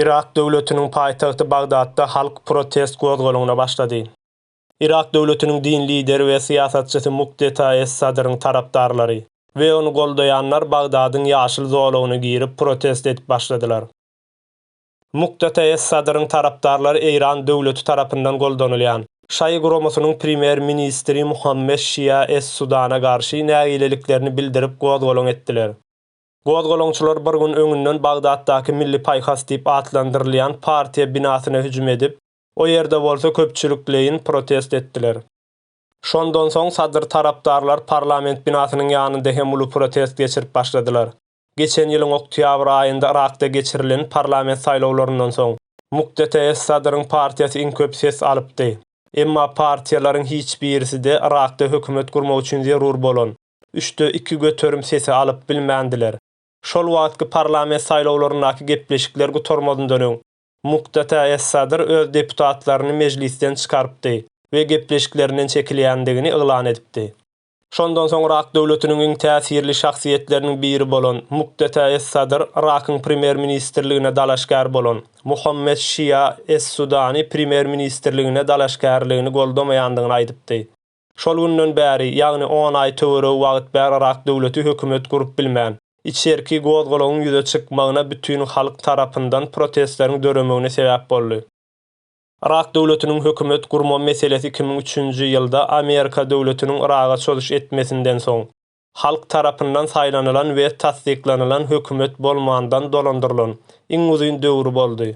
Yrak döwletiniň paýtagty Bagdatda halk protest gozgalaňyna başlady. Yrak döwletiniň din lideri we syýasatçysy Mukdeta es Sadryň tarapdarlary we ony goldaýanlar Bagdadyň ýaşyl zolagyna girip protest edip başladylar. Muktada es-Sadryň tarapdarlary Eýran döwleti tarapyndan goldanylýan, şaýy guramasynyň premýer-ministri Muhammed Şia es-Sudana garşy nägileliklerini bildirip gozgalaň etdiler. Gozgalaňçylar bir gün öňünden Bagdatdaky Milli paýhas diýip atlandyrylýan partiýa binasyna hüjüm edip, o ýerde bolsa köpçülikleýin protest etdiler. Şondan soň Sadr tarapdarlar parlament binasynyň ýanynda hem uly protest geçirip başladylar. Geçen ýylyň oktýabr aýynda Yrakda geçirilen parlament saýlawlaryndan soň, muktetees Sadryň partiýasy iň köp ses alypdy. Emma partiýalaryň hiç birisi-de Yrakda hökümet gurmak üçin zerur bolan üçde iki göterim sesi alyp bilmändiler. Şol wagtky parlament saýlawlaryndaky gepleşikler gutarmazyndan öň, muktetees Sadr öz deputatlaryny mejlisden çykarypdy we gepleşiklerinden çekilýändigini yglan edipdi. Şondan soň Yrak döwletiniň iň täsirli şahsyýetleriniň biri bolan Mukdeta es-Sadr Yrakyň premýer-ministrligine dalaşgär bolan Muhammet Şia es-Sudani premýer-ministrligine dalaşgärligini goldamaýandygyny aýdypdy. Şol günden bäri, ýagny on aý töweregi wagt bäri Yrak döwleti hökümet gurup bilmän, içerki gozgalagyň ýüze çykmagyna bütin halk tarapyndan protestleriň döremegine sebäp boldy. Yrak döwletiniň hökümet gurma meselesi iki müň üçünji ýylda Amerika döwletiniň Yraga çozuş etmesinden soň, halk tarapyndan saýlanylan we tassyklanylan hökümet bolmandan dolandyrylan iň uzyn döwri boldy.